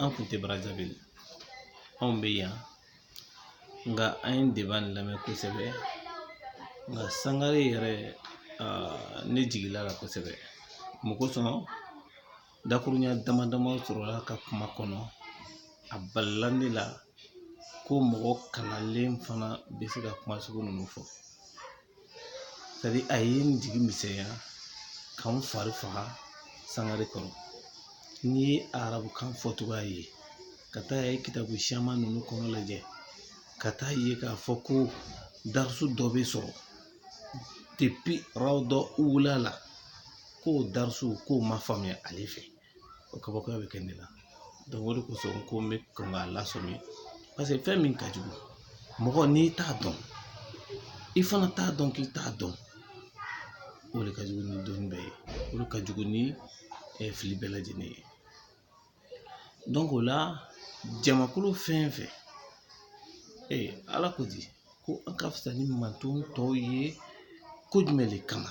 an kun tɛ brazzaville anw bɛ yan nka an ye deba in lamɛn kosɛbɛ nka sangare yɛrɛ ne jigila la kosɛbɛ mun kosɔn dakuruɲɛ dama dama sɔrɔla a ka kuma kɔnɔ a balila ne la ko mɔgɔ kalanlen fana bɛ se ka kuma sugu ninnu fɔ sɛtadiri a ye n jigi misɛnya ka n fari faga sangare kɔrɔ n'i ye arabukan fɔcogoya ye ka taa ye kitabu siyaman ninnu kɔnɔ lajɛ ka taa ye k'a fɔ ko darisu dɔ bɛ sɔrɔ depi rawda ula la k'o darisu k'o ma faamuya ale fɛ o kabakoya bɛ kɛ ne la o de kosɔn n ko n bɛ kɔn k'a lasɔmi paseke fɛn min ka jugu mɔgɔ n'i t'a dɔn i fana t'a dɔn k'i t'a dɔn o de ka jugu ni dɔnni bɛɛ ye o de ka jugu ni fili bɛɛ lajɛlen ye dɔnki o la jamakulu fɛn fɛn ee ala ko di ko an ka fisa ni manton tɔw ye ko jumɛn de kama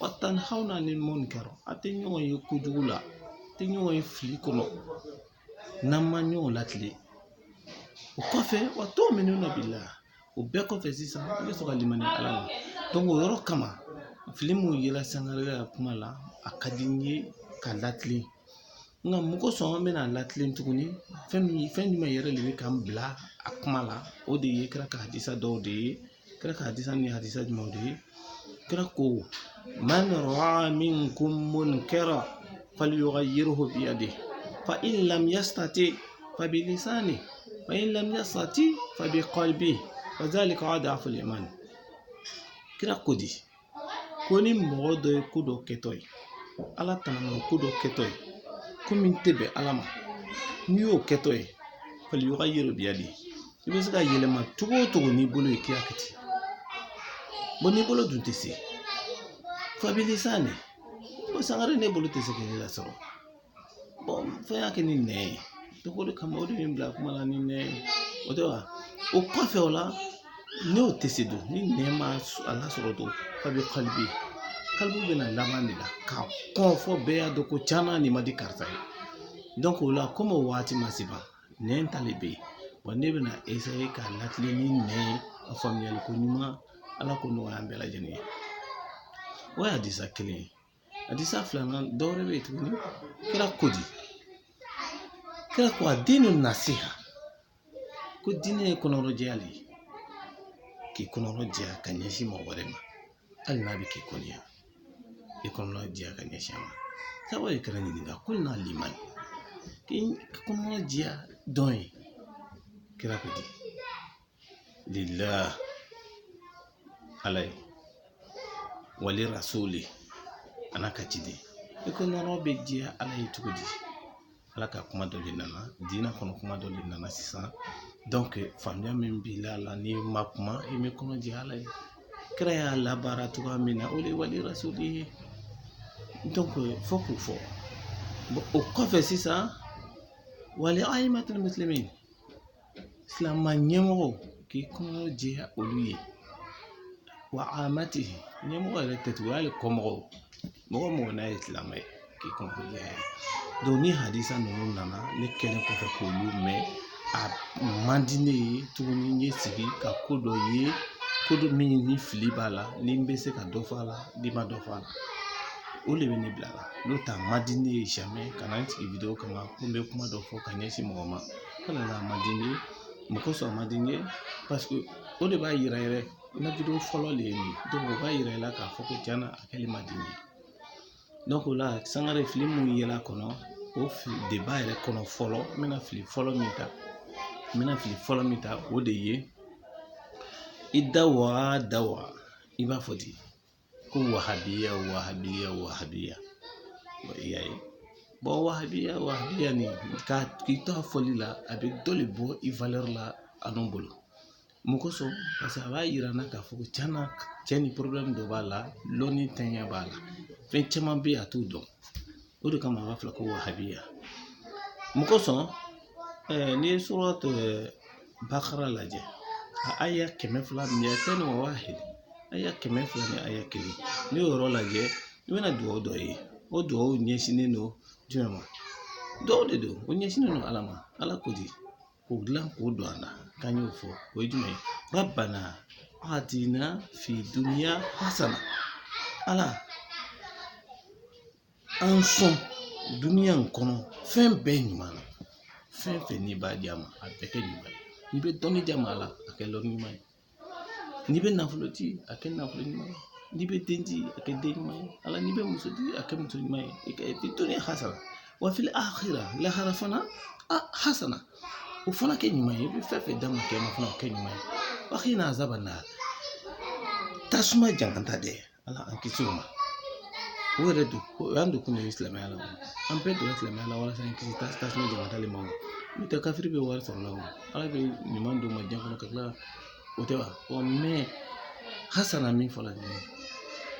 wa tanhawna anil munkar an tɛ ɲɔgɔn ye kojugu la an tɛ ɲɔgɔn ye fili kɔnɔ n'an ma ɲɔgɔn latile o kɔfɛ wa tuminuna billah o bɛɛ kɔfɛ sisan i bɛ sɔrɔ ka limaniya ala ma dɔnki o yɔrɔ kama fili min yela sangare ka kuma la a ka di n ye ka latilen nka mun kosɔn an bɛna a latilen tuguni fɛn min fɛn jumɛn yɛrɛ de bɛ ka n bila a kuma la o de ye kira ka hadisa dɔw de ye kira ka hadisa ni hadisa jumɛnw de ye kira ko man raa minkum munkara faliyugayiruhu biyadihi fa in lam yastati fa bilisanihi fa in lam yastati fa bikalbihi fa zalika adafu liman kira ko di ko ni mɔgɔ dɔ ye ko dɔ kɛtɔ ye ala tanama ko dɔ kɛtɔ ye ko min tɛ bɛn ala ma n'i y'o kɛtɔ ye faliyugayiruhu biyadihi i bɛ se k'a yɛlɛma cogo o cogo n'i bolo ye k'i y'a kɛ ten bɔn n'i bolo dun tɛ se fa bilisanihi ko sangare ne bolo tɛ se k'i lasɔrɔ fo n y'a kɛ ni nɛn ye dɔnki o de kama o de ye n bila kuma la ni nɛn ye o tɛ wa o kɔfɛ o la n'o tɛ se dun ni nɛn ma a lasɔrɔ dun fa bikalbihi kalbu bɛna laban de la k'a kɔn fo bɛɛ y'a dɔn ko can na nin man di karisa ye o la komi o waati ma se ban nɛn ta le bɛ yen bɔn ne bɛna eseye k'a latile ni nɛn ye a faamuyali ko ɲuman ala k'o nɔgɔya an bɛɛ lajɛlen ye o ye hadisa kelen ye hadisa filanan dɔwɛrɛ bɛ yen tuguni kira ko di kira ko adinu nasiha ko diinɛ ye kɔnɔrɔjɛya de ye k'i kɔnɔrɔjɛya ka ɲɛsin mɔgɔ wɛrɛ ma hali n'a bɛ k'i kɔniya i kɔnɔrɔjɛya ka ɲɛsin a ma sabaw ye kira ɲininka kulna liman k'i kɔnɔrɔjɛya jɔn ye kira ko di lillah ala ye wali rasuli a n'a ka ciden i kɔnɔrɔ bɛ jɛya ala ye cogo di ala ka kuma dɔ de nana diinɛ kɔnɔ kuma dɔ de nana sisan donc faamuya min b'i la la n'i ma kuma i bɛ kɔnɔ jɛ ala ye kira y'a labaara cogoya min na o de ye wali rasuli ye donc fo k'o fɔ o kɔfɛ sisan wali ayimatil muslimin silamɛ ɲɛmɔgɔ k'i kɔnɔ jɛya olu ye wa amatihim ɲɛmɔgɔ yɛrɛ tɛ tugun hali kɔmɔgɔw mɔgɔ mɔgɔ n'a ye silamɛ ye k'i kɔnɔ jɛya donc ni hadisa ninnu nana ne kɛlen kɔfɛ k'olu mɛn a man di ne ye tuguni n ye sigi ka ko dɔ ye ko dɔ min ni fili b'a la ni n bɛ se ka dɔ fɔ a la n'i ma dɔ fɔ a la o de bɛ ne bila a la n'o tɛ a man di ne ye jamais ka na n sigi video kama ko n bɛ kuma dɔ fɔ ka ɲɛsin mɔgɔ ma O de la a man di n ye mun kosɔn a man di n ye parce que o de b'a yira yɛrɛ n ka video fɔlɔ de ye nin donc o b'a yira i la k'a fɔ ko cɛn na a kɛli man di n ye donc o la sangare fili minnu yera a kɔnɔ o débat yɛrɛ kɔnɔ fɔlɔ n bɛna fili fɔlɔ min ta o de ye i da wa da wa i b'a fɔ ten ko wahabiya wahabiya wahabiya i y'a ye bon wahabiya wahabiya nin k'i to a fɔli la a bɛ dɔ de bɔ i valeur la anw bolo mun kosɔn parce que a b'a yira n na k'a fɔ ko cɛn na cɛ nin problème dɔ b'a la lɔnni tanya b'a la fɛn caman bɛ yen a t'o dɔn o de kama a b'a fɔ ko wahabiya mun kosɔn n'i ye suratul bakara lajɛ a aya kɛmɛ fila miyateni wa wahid aya kɛmɛ fila ni aya kelen n'i y'o yɔrɔ lajɛ i bɛna dugawu dɔ ye o dugawu ɲɛsinnen don jumɛn ma dugawu de don o ɲɛsinnen don ala ma ala ko di k'o dilan k'o don an na k'an y'o fɔ o ye jumɛn ye rabbana atina fi duniya hasana ala An sɔn duniya in kɔnɔ fɛn bɛɛ ɲuman na fɛn fɛn n'i b'a di an ma a bɛɛ kɛ ɲuman ye n'i bɛ dɔnni di an ma ala a kɛ lɔnni ɲuman ye n'i bɛ nafolo di a kɛ nafolo ɲuman ye n'i bɛ den di a kɛ den ɲuman ye ala n'i bɛ muso di a kɛ muso ɲuman ye i ka fi duniya hasana wa fil akhirah lahara fana hasana o fana kɛ ɲuman ye i bɛ fɛn fɛn d'an ma kiyama fana o kɛ ɲuman ye wa kina azaban nar tasuma jangata dɛ ala an kisi o ma o yɛrɛ dun o y'an don kun de ye silamɛya la an bɛɛ donna silamɛya la walasa an kisi tasuma jankata le ma n'o tɛ kafiri bɛ wari sɔrɔ la o ala bɛ ɲuman d'u ma diɲɛ kɔnɔ ka tila o tɛ wa mɛ hasana min fɔla nin ye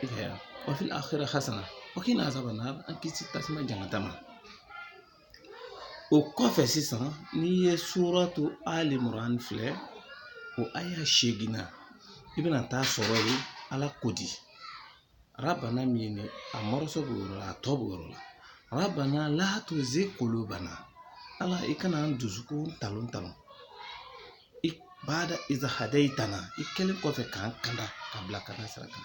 i ka yan wa fil akhirah hasana wa qina azaban nar an kisi tasuma jankata ma o kɔfɛ sisan n'i ye suratu Ali Imran filɛ o aya seegin na i bɛna taa sɔrɔ ye ala ko di rabbana min ye nin a mɔrɔso b'o yɔrɔ la a tɔ b'o yɔrɔ la rabbana la tuzigh qulubana ala i kana an dusukun talon talon baada iz hadaytana i kɛlen kɔfɛ k'an kanda ka bila ka na sira kan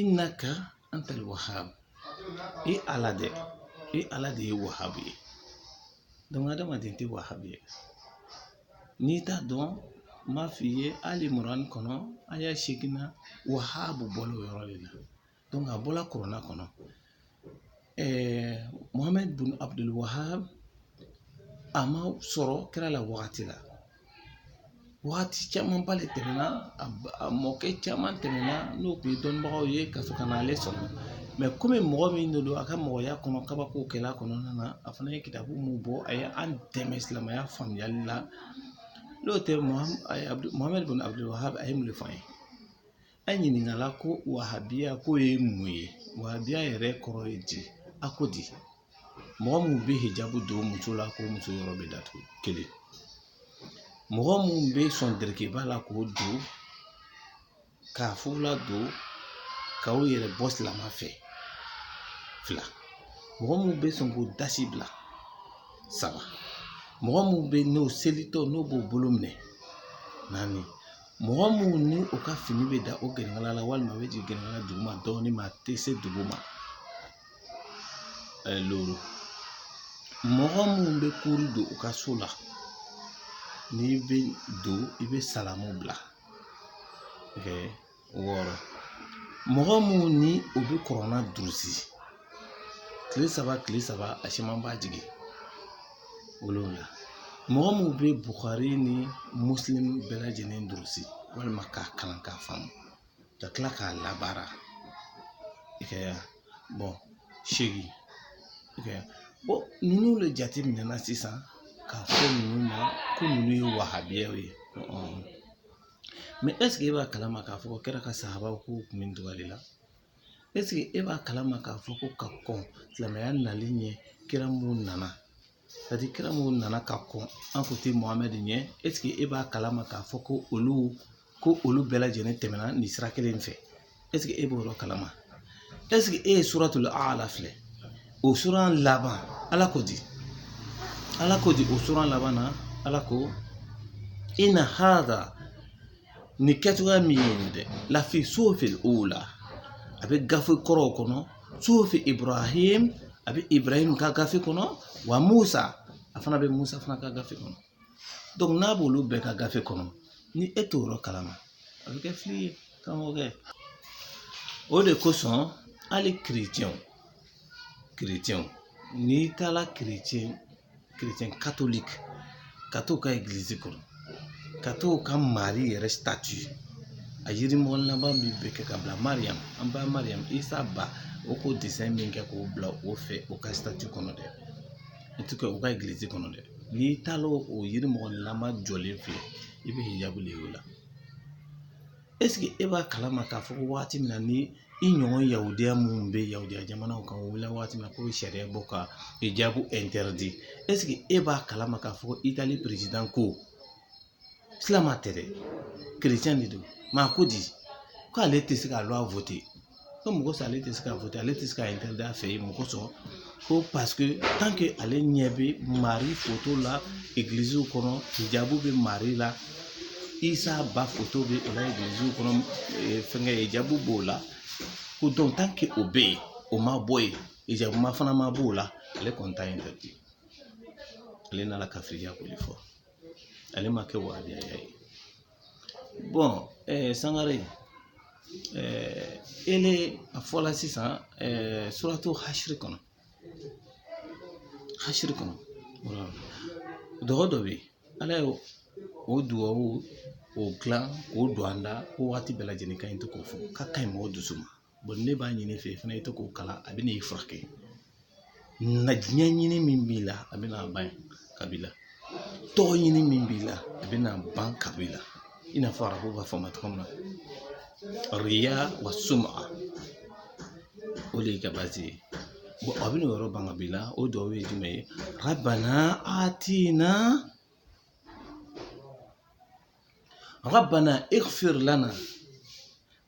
innaka antal wahabu i ala de i ala de ye wahabu ye donc adamaden tɛ wahabu ye n'i t'a dɔn n b'a f'i ye Ali Imran kɔnɔ aya seegin wahabu bɔla o yɔrɔ de la a bɔla kurana kɔnɔ Mohamɛdi bun Abuduli Wahab a ma sɔrɔ kira la wagati la wagati camanba de tɛmɛna a mɔkɛ caman tɛmɛna n'o tun ye dɔnnibagaw ye ka sɔrɔ ka na ale sɔrɔ mɛ komi mɔgɔ min de don a ka mɔgɔya kɔnɔ kabakow kɛla kɔnɔna na a fana ye kitabu mun bɔ a ye an dɛmɛ silamɛya faamuyali la n'o tɛ Mohamɛdi bun Abuduli Wahab a ye mun de fɔ an ye An ɲininkala ko wahabiya ko ye mun ye wahabiya yɛrɛ kɔrɔ ye di a ko di mɔgɔ minnu bɛ hijabu don muso la ka muso yɔrɔ bɛɛ datugu kelen mɔgɔ minnu bɛ sɔn derekeba la k'o don k'a fugula don ka u yɛrɛ bɔ silama fɛ fila mɔgɔ minnu bɛ sɔn k'u dasi bila saba mɔgɔ minnu bɛ n'o selitɔ n'o b'o bolo minɛ naani mɔgɔ minnu ni u ka fini bɛ dan o gɛnɛnkala la walima a bɛ jigin gɛnɛnkala duguma dɔɔnin ma a tɛ se dugu ma loro mɔgɔ minnu bɛ kuru don u ka so la n'i bɛ don i bɛ salamu bila wɔɔrɔ mɔgɔ minnu ni u bɛ kurana durusi kile saba kile saba a siyaman b'a jigin wolonwula mɔgɔ minnu bɛ bukari ni muslim bɛɛ lajɛlen durusi walima k'a kalan k'a faamu ka tila k'a labaara i ka bɔn seegin i ka bɔn ninnu de jate minɛna sisan k'a fɔ ninnu ma ko ninnu ye wahabiyaw ye mɛ ɛseke e b'a kalama k'a fɔ ko kira ka sahabaw k'u kun bɛ o cogoya de la ɛseke e b'a kalama k'a fɔ ko ka kɔn silamɛya nali ɲɛ kira minnu nana c'est-à-dire kira minnu nana ka kɔn an kuntigi mohamɛd ɲɛ ɛseke e b'a kalama k'a fɔ ko olu ko olu bɛɛ lajɛlen tɛmɛna nin sira kelen in fɛ ɛseke e b'o yɔrɔ kalama ɛseke e ye suratul aala filɛ o sura laban ala ko di ala ko di o sura laban na ala ko ina hada ni kɛcogoya min ye nin dɛ lafi suhufil ula a bɛ gafe kɔrɔw kɔnɔ suhufi ibrahim a bɛ ibrahim ka gafe kɔnɔ wa musa a fana bɛ musa fana ka gafe kɔnɔ dɔnku n'a b'olu bɛɛ ka gafe kɔnɔ ni e t'o yɔrɔ kalama a bɛ kɛ fili ye karamɔgɔkɛ o de kosɔn hali kirecɛnw kirecɛnw n'i taara kirecɛn chrétien catholique ka t'o ka église kɔnɔ ka t'o ka mari yɛrɛ statue a yirimɔgɔlama min bɛ kɛ ka bila mariyamu an ba mariyamu isa ba o k'o desɛn min kɛ k'o bila o fɛ o ka statue kɔnɔ dɛ en tout cas o ka église kɔnɔ dɛ n'i taara o yirimɔgɔnilama jɔlen filɛ i bɛ hijabu de y'o la eseke e b'a kalama k'a fɔ ko waati min na ni i ɲɔgɔn yawudiya minnu bɛ yawudiya jamanaw kan o wulila waati min na k'o bɛ sariya bɔ ka hijabu interdit eseke e b'a kalama k'a fɔ ko itali perezidan ko silamɛ tɛ dɛ kerecɛn de don mɛ a ko di k'ale tɛ se ka loi ko mɔgɔ sa ale tɛ se ka voter ale tɛ se ka interdit a fɛ yen mɔgɔ sɔrɔ ko paseke tant que ale ɲɛ bɛ mari foto la egiliziw kɔnɔ hijabu bɛ mari la isa ba foto bɛ o la egiliziw kɔnɔ fɛnkɛ hijabu b'o la ko o bɛ yen o ma bɔ yen hijabu fana ma b'o la ale kɔni t'a interdit ale nana kafiriya ko de fɔ ale ma kɛ wahabiya ye bɔn ɛɛ sangare ɛɛ e le a fɔla sisan ɛɛ suratu hasiri kɔnɔ hasiri kɔnɔ wala duga dɔ bɛ yen ala ye o duwawu o gilan k'o don an da ko waati bɛɛ lajɛlen ka ɲi to k'o fɔ k'a ka ɲi mɔgɔ dusu ma bɔn ne b'a ɲini i fɛ fana i tɛ k'o kalan a bɛ n'i furakɛ na diɲɛ ɲini min b'i la a bɛ n'a ban ka b'i la tɔgɔ ɲini min b'i la a bɛ n'a ban ka b'i la i n'a fɔ arabu b'a fɔ ma cogo min na riya wa suma o de y'i ka baasi ye bɔn a bɛ n'o yɔrɔ ban ka b'i la o dɔw ye jumɛn ye rabana atina rabana ighfir lana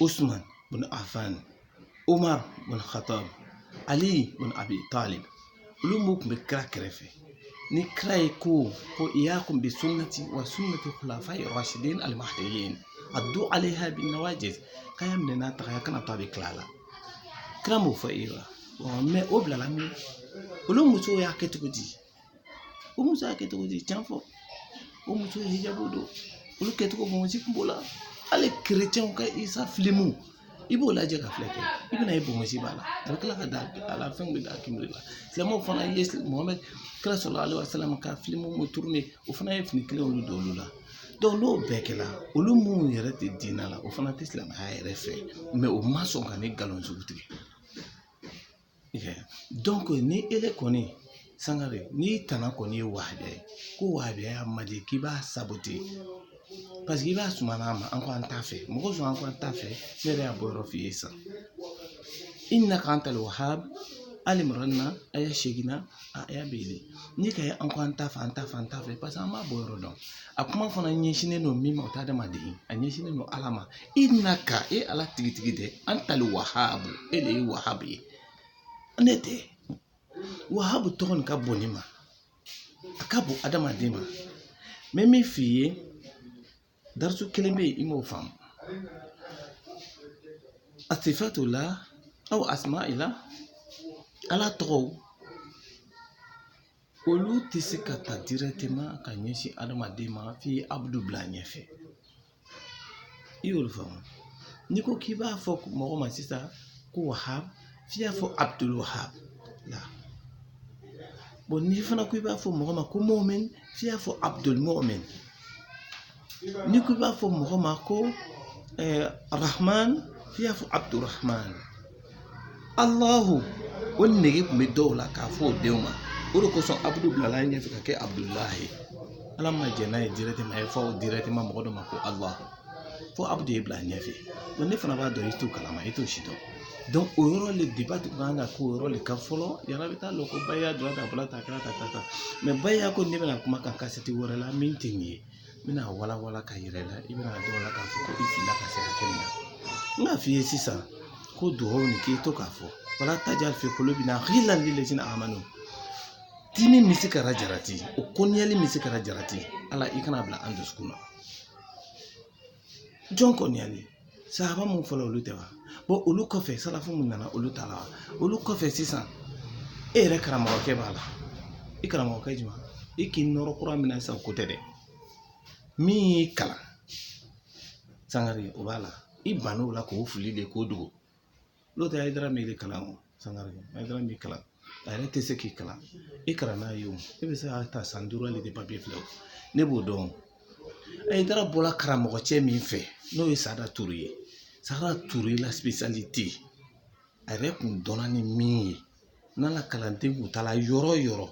Usman bin Affan Umar bin Khattab Ali bin Abi Talib olu mun kun bɛ kira kɛrɛfɛ ni kira ye ko ko iyakum bi sunnati wa sunnati khulafai rashidin al mahdiyyin addu alaiha bin nawajid k'a y'a minɛ n'a taga ye a kana to a bɛ kila a la kira m'o fɔ e ye wa mɛ o bilala min olu musow y'a kɛ cogo di o muso y'a kɛ cogo di tiɲɛ fɔ o muso ye hijabu don olu kɛcogo bonbonsi kun b'o la hali chrétienw ka Isa filimu i b'o lajɛ ka filɛ kɛ i bɛna ye bonbonsi b'a la a bɛ kila ka da a la fɛn bɛ da k'i la silamɛw fana ye Muhamɛd kira sallallahu alaihi wasallam ka filimu mun tourner o fana ye fini kelen olu don olu la n'o bɛɛ kɛra olu minnu yɛrɛ tɛ diinɛ la o fana tɛ silamɛya yɛrɛ fɛ o ma sɔn ka nin nkalon sugu tigɛ donc ni e de kɔni Sangare n'i tana kɔni ye wahabiya ye ko wahabiya man di k'i b'a saboter parce que i b'a suma an ma an ko an t'a fɛ mɔgɔ sɔn an ko an t'a fɛ ne yɛrɛ y'a bɔ yɔrɔ f'i ye sisan innaka antal wahab Ali Imran aya seginnan aya bɛ yen n'i ka ye an ko an t'a fɛ an t'a fɛ an t'a fɛ paseke an b'a bɔ yɔrɔ dɔn a kuma fana ɲɛsinnen don min ma o tɛ adamaden a ɲɛsinnen don ala ma innaka e ala tigitigi dɛ antal wahabu e de ye wahabu ye ne tɛ wahabu tɔgɔ nin ka bon ne ma a ka bon adamaden ma mɛ min f'i ye darisu kelen bɛ yen i m'o faamu asifatullah aw asma'illah ala tɔgɔw olu tɛ se ka ta directement ka ɲɛsin adamaden ma f'i ye abdu bila ɲɛfɛ i y'olu faamu n'i ko k'i b'a fɔ mɔgɔ ma sisan ko wahab f'i y'a fɔ abdul wahab la bon n'i fana ko i b'a fɔ mɔgɔ ma ko mu'min f'i y'a fɔ abdul mu'min n'i ko i b'a fɔ mɔgɔ ma ko eh, rahman f'i y'a fɔ abdul rahman alahu o nege kun bɛ dɔw la k'a fɔ o denw ma o de kosɔn abdu bilala a ɲɛfɛ ka kɛ abdullahi ye ala ma jɛn n'a ye directement a ye fɔ directement mɔgɔ dɔ ma ko ala fo abdu ye bila ɲɛfɛ ne fana b'a dɔn i t'o kalama i t'o si dɔn o yɔrɔ le débat tun kan ka k'o yɔrɔ le kan fɔlɔ yala bɛ taa lɔ ko wahabiya dɔrɔn ta bala ta kɛra ta ta mɛ wahabiya ko ne bɛna kuma kan kasɛti wɛrɛ la min tɛ nin ye n bɛna walawala ka yira i la i bɛna dɔn la k'a fɔ ko i filila ka se hakɛ min na n b'a f'i ye sisan ko duwawu nin k'i to k'a fɔ wala tajal fi qulubina ghillan lil ladzina amanu dimi misikala jarati o kɔniya hali misikala jarati ala i kana bila an dusukun na jɔn kɔniyalen sahaba mun fɔlɔ olu tɛ wa bon olu kɔfɛ salafu mun nana olu t'a la wa olu kɔfɛ sisan e yɛrɛ karamɔgɔkɛ b'a la i karamɔgɔkɛ juma i k'i nɔrɔ kura min na sisan k'o tɛ dɛ min y'i kalan sangare o b'a la i banna o la k'o fili de k'o dogo n'o tɛ hayidara m'i kalan o sangare hayidara m'i kalan a yɛrɛ tɛ se k'i kalan i kalan n'a ye o e bɛ se ka ta san duuru ale de papier filɛ o ne b'o dɔn hayidara bɔla karamɔgɔ cɛ min fɛ n'o ye sada ture ye sada ture la spécialité a yɛrɛ kun dɔnna ni min ye n'a la kalanden kun taara yɔrɔ o yɔrɔ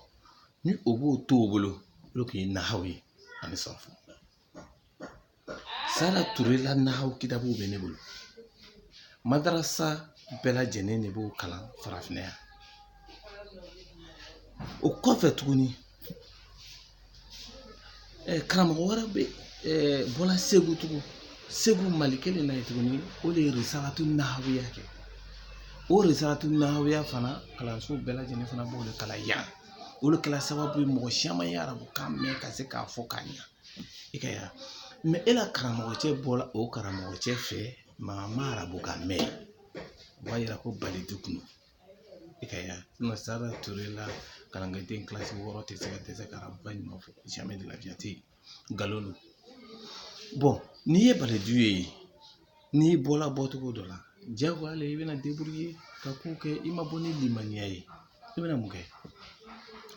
ni o b'o to o bolo o de kun ye nahaw ye ani sarfu sada ture la nahaw kitabuw bɛ ne bolo madarasa bɛɛ lajɛlen de b'o kalan farafinna yan o kɔfɛ tuguni eh, karamɔgɔ wɛrɛ bɛ eh, bɔla segu tugun segu mali kelen na yen tuguni o de ye risalatu nahawiya kɛ o risalatu nahawiya fana kalanso bɛɛ lajɛlen fana b'o de kalan yan o de kɛra sababu ye mɔgɔ caman ye arabu kan mɛn ka se k'a fɔ k'a ɲɛ i ka yan mais e la karamɔgɔ cɛ bɔla o karamɔgɔ cɛ fɛ maa ma arabu kan mɛn o b'a yira ko balidu kun i ka yan sada ture la kalanden kilasi wɔɔrɔ tɛ se ka dɛsɛ ka arabu kan ɲuman fɔ jamais de la vie a tɛ yen nkalon don bon n'i ye balidu ye n'i bɔla bɔcogo dɔ la jagoya la i bɛna débrouiller ka ko kɛ i ma bɔ ni limaniya ye i bɛna mun kɛ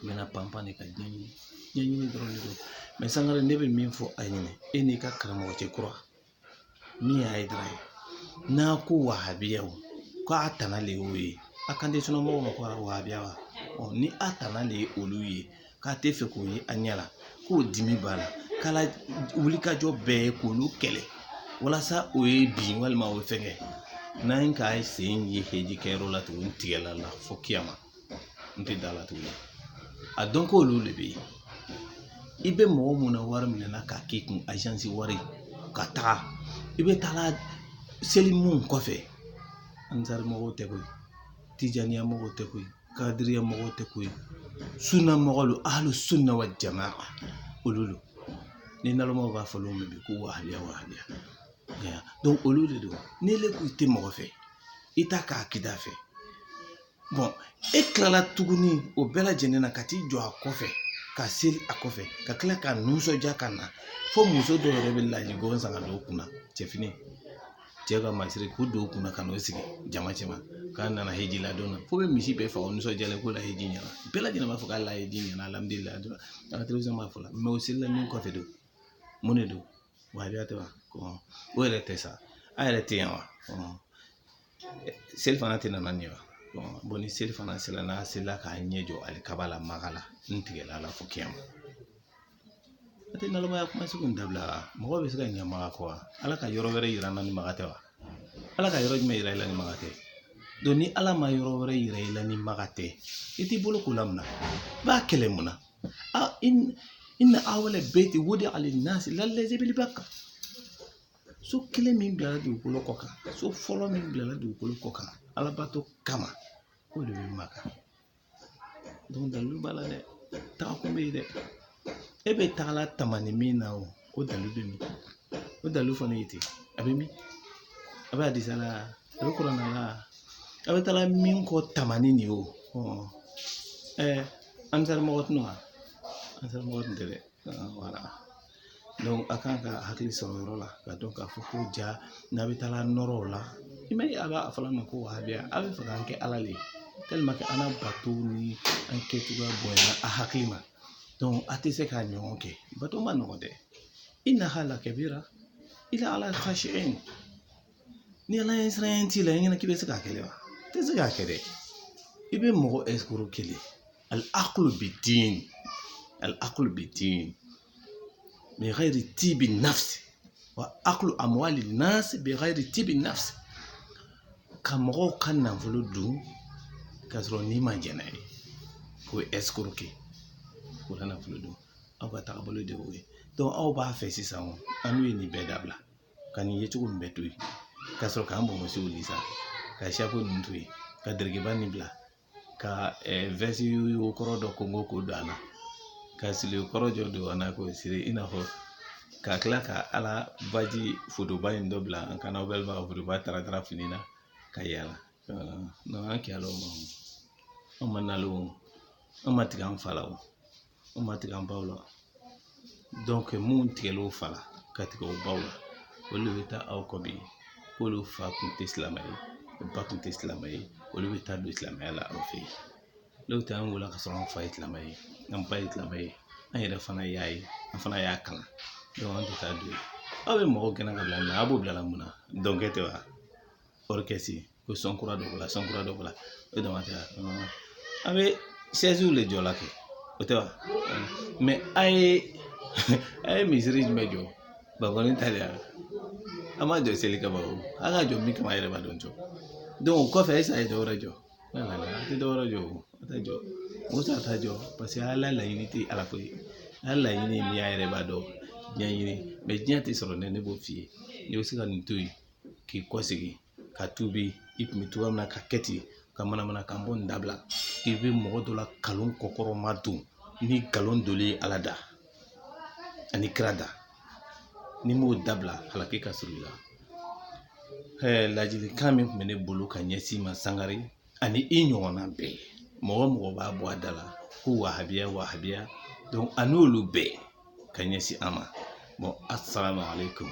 i bɛna panpan de ka ɲɛɲini dɔrɔn de dɔn mais sangare ne bɛ min fɔ a ɲɛna e n'i ka karamɔgɔ cɛ kura min ye hayidara ye n'a ko wahabiyaw k'a tana de y'o ye a kan tɛ sunna mɔgɔw ma ko wahabiya wa ni a tana de ye olu ye k'a tɛ fɛ k'o ye a ɲɛ la k'o dimi b'a la k'a la wulikajɔ bɛɛ ye k'olu kɛlɛ walasa o ye bin walima o ye fɛnkɛ n'an ye k'a sen ye heji kɛyɔrɔ la tuguni tigɛla la fo kiyama n tɛ da la tuguni a dɔn ko olu de bɛ yen i bɛ mɔgɔ mun na wari minɛna k'a k'i kun agence wari ka taga i bɛ taga seli mun kɔfɛ ansari mɔgɔw tɛ koyi tijaniya mɔgɔw tɛ koyi kadiriya mɔgɔw tɛ koyi sunna mɔgɔw don ahlu sunna wa jamaa olu don ni nalonmaw b'a fɔ olu ma bi ko wahabiya wahabiya olu de don n'ile ko i tɛ mɔgɔ fɛ i t'a ka akida fɛ e kilala tuguni o bɛɛ lajɛlen na ka t'i jɔ a kɔfɛ ka seli a kɔfɛ ka kila k'a nisɔndiya ka na fo muso dɔw yɛrɛ bɛ laji bɔ san ka don u kunna cɛ fini cɛ ka masiri k'u don u kunna ka n'u sigi jama cɛma k'a nana heji la don fo bɛ misi bɛɛ faga nisɔndiyalen k'o la heji ɲɛna bɛɛ lajɛlen b'a fɔ k'a la heji ɲɛna alhamdulilayi dɔrɔn an ka télévision b'a fɔ la mais o selila min kɔfɛ don mun de don wahabiya tɛ wa o yɛrɛ tɛ sa a yɛrɛ tɛ yan wa selifana tɛ nana nin ye wa ni selifana sera n'a selila k'a ɲɛ jɔ alikaba la maka la n tigɛla la fo kɛnɛ ma a tɛ nalomaya kuma sugu in dabila mɔgɔ bɛ se ka ɲɛ maka kɔ wa ala ka yɔrɔ wɛrɛ yira n na ni maka tɛ wa ala ka yɔrɔ jumɛn yira i la ni maka tɛ donc ni ala ma yɔrɔ wɛrɛ yira i la ni maka tɛ i t'i bolo ko la mun na i b'a kɛlɛ mun na inna awwala bayti wudi'a linnasi lallazi bi bakka so kelen min bilala dugukolo kɔ kan so fɔlɔ min bilala dugukolo kɔ kan alabato kama o de bɛ maka dalilu b'a la dɛ tagakun bɛ yen dɛ e bɛ tagala tamani min na o o dalilu bɛ min o dalilu fana ye ten a bɛ min a bɛ hadisa la a bɛ kuranna la a bɛ taala min kɔ tamani nin o ɛɛ ansar mɔgɔ tɛ wa ansar mɔgɔ tɛ dɛ voilà a kan ka hakili sɔrɔ o yɔrɔ la ka dɔn k'a fɔ ko ja n'a bɛ taala nɔrɔ o la i ma ye a b'a fɔ a ma ko wahabiya a bɛ fɛ k'an kɛ ala le ye tellement an ka bato ni an kɛcogoya bonyana a hakili ma donc a tɛ se k'a ɲɔgɔn kɛ bato ma nɔgɔ dɛ innaha lakabira illa ala khashi'in ni ala ɲɛsiranya t'i la i ɲɛna k'i bɛ se k'a kɛ wa i tɛ se k'a kɛ dɛ i bɛ mɔgɔ escroquer le al aklu bid din al aklu bid din bi ghayri tibi nafsi wa aklu amwali nasi bi ghayri tibi nafsi ka mɔgɔw ka nafolo dun k'a sɔrɔ ni ma jɛn n'a ye o ye escroquer o la nafolo dun aw ka taabolo de y'o ye aw b'a fɛ sisan annu ye nin bɛɛ dabila ka nin ye cogo min bɛɛ to yen ka sɔrɔ k'an bonsiw li sa ka chapeau ninnu to yen ka dɛrɛkɛba nin bila ka veste kɔrɔ dɔ ko k'o don an na ka siri kɔrɔ jɔ don an na k'o siri i n'a fɔ ka kila ka ala baji fotoba in dɔ bila an kan na walima ka fotoba taratara fini na ka yala an kɛlɛla o ma an ma nalo an ma tigɛ an fa la o an ma tigɛ an baw la mun tigɛlen o fa la ka tigɛ o baw la olu de bɛ taa aw kɔ bi k'olu fa kun tɛ silamɛ ye ba kun tɛ silamɛ ye olu bɛ taa don silamɛya la aw fɛ yen n'o tɛ an wulila ka sɔrɔ an fa ye silamɛ ye an ba ye silamɛ ye an yɛrɛ fana y'a ye an fana y'a kalan an tɛ taa don aw bɛ mɔgɔw gɛn ka bila a b'o bila mun na dɔnkɛ tɛ wa ko san kura dɔ la san kura dɔ la o dama tɛ an bɛ de jɔ la kɛ o tɛ wa mɛ a ye a ye misiri jumɛn jɔ bakɔni ta de y'a a m'a jɔ seli kama o an ka jɔ min kama yɛrɛ b'a dɔn jɔ o kɔfɛ ɛsi a ye dɔwɛrɛ jɔ a tɛ dɔwɛrɛ jɔ o a tɛ jɔ musa t'a jɔ paseke ala laɲini tɛ ala ko ye ala laɲini ye min y'a yɛrɛ b'a dɔn diɲɛ ɲini mɛ diɲɛ tɛ sɔrɔ ne ne b'o f'i ye n'i bɛ se ka nin to yen k'i kɔ segin ka tuubi i tun bɛ cogoya min na ka kɛ ten ka manamanakan bɔ nin dabila i bɛ mɔgɔ dɔ lakalon kɔkɔrɔ ma don ni nkalon doli ye ala da ani kira da n'i m'o dabila halaki ka surun i la ladilikan min tun bɛ ne bolo ka ɲɛsin i ma sangare ani i ɲɔgɔnna bɛɛ mɔgɔ o mɔgɔ b'a bɔ a da la ko wahabiya wahabiya a n'olu bɛɛ ka ɲɛsin an ma asalaamaaleyikun